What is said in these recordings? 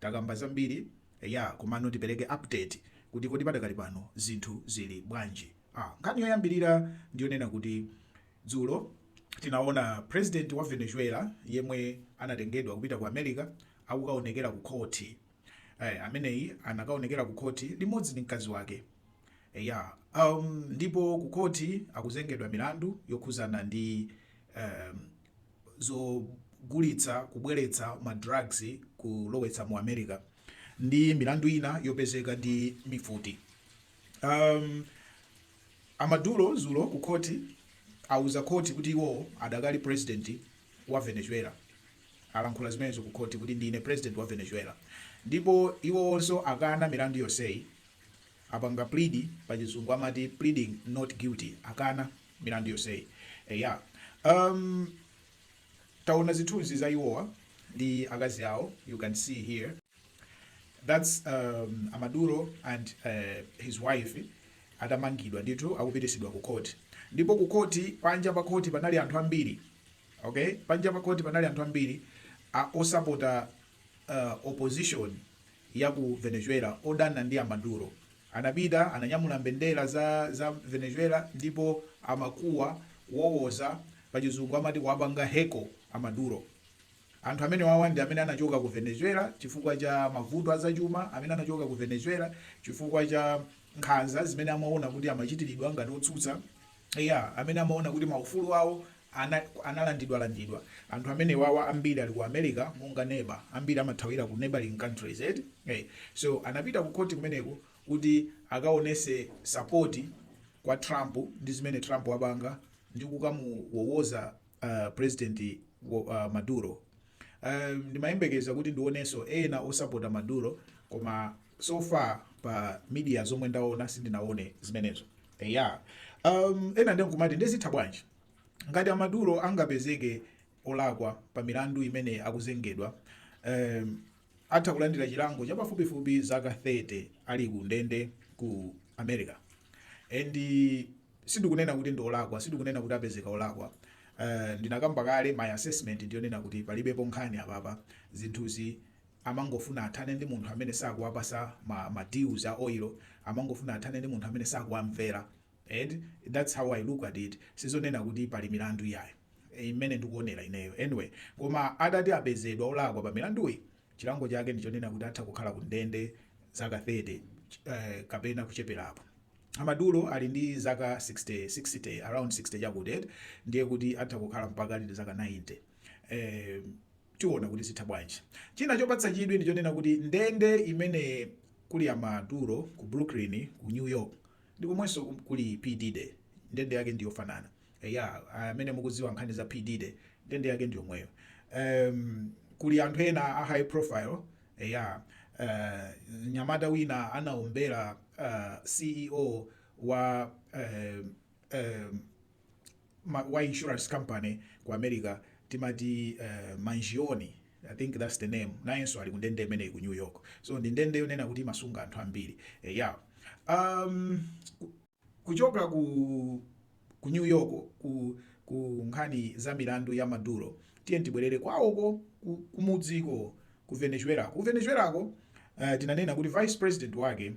Takamba zambiri eya komano tipereke update kuti kodi padakali pano zinthu zili bwanji. Ah, nkhani yoyambirira ndiyonena kuti dzulo tinaona president wa Venezuela yemwe anatengedwa kupita ku America akukaonekera ku khoti. Eh, ameneyi anakaonekera ku khoti limodzi ndi mkazi wake. Eya, um, ndipo ku khoti akuzengedwa milandu yokhuzana ndi um, zogulitsa, kubweretsa ma drugs kulowetsa mu America ndi milandu ina yopezeka ndi mifuti. Um, a Maduro zulo ku khoti auza khoti kuti iwo adakali president wa Venezuela alankhula zimenezo ku khoti kuti ndine president wa Venezuela ndipo iwo onso akana milandu yonseyi apanga plead pa chizungu amati pleading not guilty akana milandu yonseyi. Eya, um, taona zithunzi za iwowa ndi akazi awo, you can see here that's um, Amaduro and uh, his wife atamangidwa ndithu akupititsidwa ku court, ndipo ku court panja pa court panali anthu ambiri okay, panja pa court panali anthu ambiri a osapota uh, opposition ya ku Venezuela odana ndi Amaduro Anapita, ananyamula mbendera za, za Venezuela, ndipo amakuwa, kuwowoza, pa chizungu amati kuwapanga heckle a Maduro. Anthu amenewawa ndi amene anachoka ku Venezuela chifukwa cha mavuto a zachuma, amene anachoka ku Venezuela chifukwa cha nkhanza zimene amaona kuti amachitiridwa ngati otsutsa, eya, amene amaona kuti maufulu awo analandidwalandidwa anthu amenewawa ambiri ali ku America monga neba ambiri amathawira ku neighbouring countries eti hey so anapita ku court kumeneko kuti akaonese support kwa Trump ndi zimene Trump wapanga ndi kukamuwowoza president Maduro ndimayembekeza kuti ndioneso ena osapota Maduro koma so far pa media zomwe ndaona sindinaone zimenezo. Eya. Um, ena ndiye nkumati ndiye zitha bwanji? Ngati a Maduro angapezeke olakwa pa milandu imene akuzengedwa, um, atha kulandira chilango cha pafupifupi zaka 30 ali ku ndende ku America. And sindikunena kuti ndi olakwa, sindikunena kuti apezeka olakwa. Uh, ndinakamba kale my assessment ndiyonena kuti palibepo nkhani apapa zinthuzi amangofuna athane ndi munthu amene sakuwapasa ma ma deals a oil, amangofuna athane ndi munthu amene sakuwamvera eti, that's how i look at it, sizonena kuti pali milandu iyi ayi mmene ndikuonera ineyo anyway, koma atati apezedwa olakwa pa milanduyi chilango chake ndi chonena kuti atha kukhala ku ndende zaka 30 kapena kucheperapo. A Maduro ali ndi zaka 60, 60 around 60 chakuti eti, ndiye kuti atha kukhala mpaka ali ndi zaka 90 eh, Tiona kuti zitha bwanji. China chopatsa chidwi ndi chonena kuti ndende imene kuli a Maduro ku Brooklyn ku New York ndi komwenso kuli P Diddy ndende yake ndi yofanana. Eya, amene mukudziwa nkhani za P Diddy ndende yake ndi yomweyo. Ehm, kuli anthu ena a high profile. Eya, eh, mnyamata wina anaombera eh, CEO wa eh, eh, wa insurance company ku America amati Mangione I think that's the name nayenso ali kundende imeneyi ku New York so ndi ndende yonena kuti imasunga anthu ambiri eya um, kuchoka ku, ku New York ku, ku nkhani za milandu ya Maduro tiye tibwerere kwawoko kumudziko ku Venezuela ku Venezuelako uh, tinanena kuti vice president wake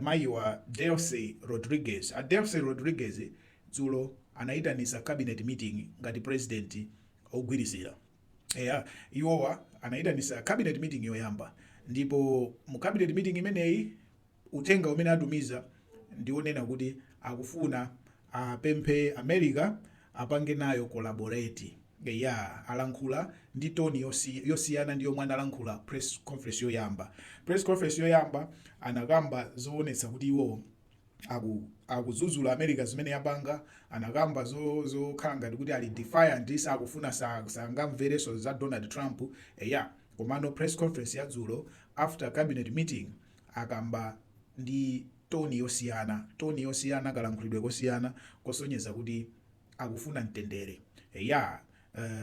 Mayi wa Delcy Rodriguez. A Delcy Rodriguez dzulo anaitanisa cabinet meeting ngati president ogwirizira. Eya iwowa anaitanisa cabinet meeting yoyamba ndipo mu cabinet meeting imeneyi uthenga umene atumiza ndi onena kuti akufuna Apemphe America apange nayo collaborate. Eya alankhula ndi tone yosi yosiyana ndi yomwe analankhula press conference yoyamba. Press conference yoyamba anakamba zowonetsa kuti iwo aku akuzuzula America zimene yapanga, anakamba zo zokhala ngati kuti ali defiant sakufuna sa sangamvereso za Donald Trump eya komano press conference yadzulo after cabinet meeting akamba ndi toni yosiyana, toni yosiyana, kalankhulidwe kosiyana kosonyeza kuti akufuna mtendere. Eya,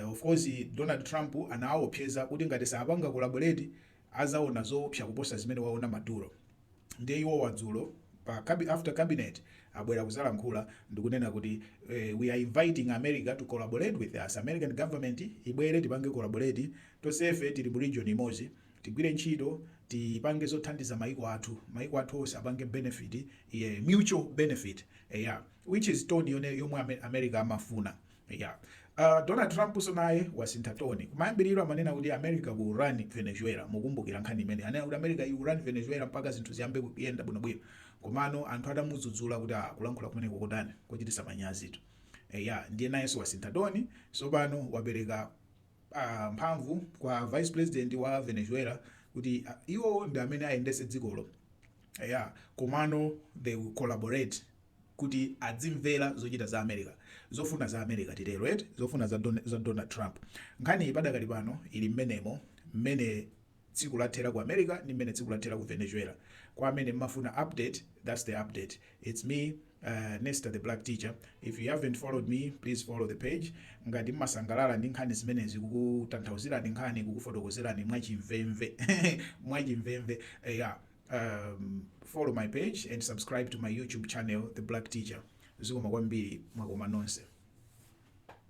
uh, of course Donald Trump anawawopseza kuti ngati sapanga collaborate azaona zoopsa kuposa zimene waona Maduro. Ndiye iwowa dzulo pa cabi after cabinet abwera kuzalankhula ndikunena kuti eh, we are inviting America to collaborate with us. American government ibwere tipange collaborate tonsefe tili mu region imodzi. Tigwire ntchito tipange zothandiza maiko athu, maiko athu onse apange benefit, yeah, mutual benefit, eya, which is tone yone yomwe ame, America amafuna, eya. Uh, Donald Trumpso naye wasintha tone. Kumayambiriro amanena kuti America will run Venezuela, mukumbukira nkhani imene anena kuti America will run Venezuela mpaka zinthu ziyambe kuyenda bwinobwino, komano anthu atamudzudzula kuti ah, kulankhula kumeneko kotani kochititsa manyazitu, eya, ndiye nayenso wasintha tone, sopano wapereka a mphamvu kwa vice president wa Venezuela kuti iwo ndi amene ayendetse dzikolo eya komano they will collaborate kuti adzimvera zochita za America zofuna za America titero eti zofuna za Donald Trump nkhaniyi padakali pano ili mmenemo mmene tsiku lathera ku America ndi mmene tsiku lathera ku Venezuela kwa amene mmafuna update that's the update it's me uh, Nesta the black teacher if you haven't followed me please follow the page ngati mmasangalala ndi nkhani zimenezi kukutanthauzirani nkhani kukufotokozerani mwachimvemve follow my page and subscribe to my youtube channel the black teacher zikomo kwambiri mwakoma nonse